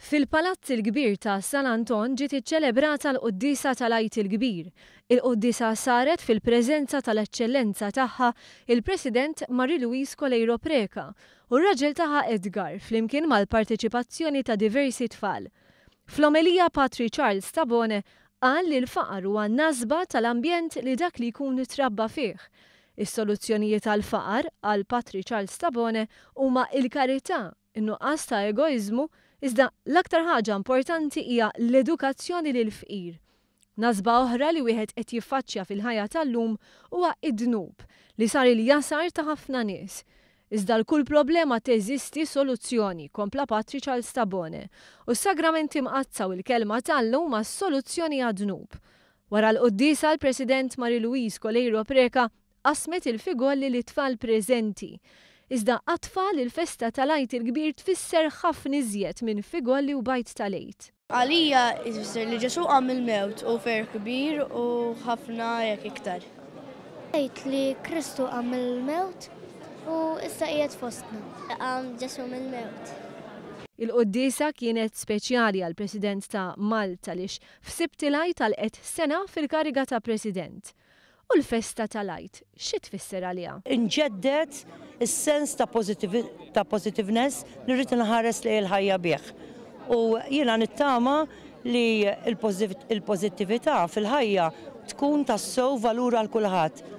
Fil-Palazz il-Kbir ta' San Anton ġiet iċċelebrata l-Quddiesa tal-Għid il-Kbir. Il-Quddiesa saret fil-preżenza tal-Eċċellenza Tagħha il-President Marie Louise Coleiro Preca u r-raġel tagħha Edgar flimkien mal-parteċipazzjoni ta' diversi tfal. Fl-omelija Patri Charles Tabone qal li l-faqar huwa nasba tal-ambjent li dak li jkun trabba fih. Is-soluzzjonijiet għall-faqar, qal Patri Charles Tabone, huma il-karità, in-nuqqas ta' egoiżmu, iżda l-aktar ħaġa importanti hija l-edukazzjoni lill-fqir. Nasba oħra li wieħed qed jiffaċċja fil-ħajja tal-lum huwa d-dnub, li sar il-jasar ta' ħafna nies. Iżda għal kull problema teżisti soluzzjoni, kompla Patri Charles Tabone, u s-Sagramenti Mqaddsa u l-Kelma t'Alla huma s-soluzzjoni għad-dnub. Wara l-quddiesa l-President Marie Louise Coleiro Preca Qasmet il-figolli lit-tfal preżenti. Iżda għat-tfal il-festa tal-Għid il-Kbir tfisser ħafna iżjed minn figolli u bgħid tal-Għid. Għalija hi tfisser li Ġesù qam mill-mewt u ferħ kbir u ħafna hekk iktar. Tgħid li Kristu qam mill-mewt u issa qiegħed fostna. Qam Ġesù mill-mewt. Il-quddiesa kienet speċjali għall-President ta' Malta għaliex f'Sibt il-Għid għalqet sena fil-kariga ta' President. U l-festa tal-Għid, xi tfisser għaliha? Inġedded is-sens ta' positiveness li rrid inħares lejn il-ħajja bih. U jiena nittama li l-pożittività fil-ħajja tkun tassew valur għal kulħadd.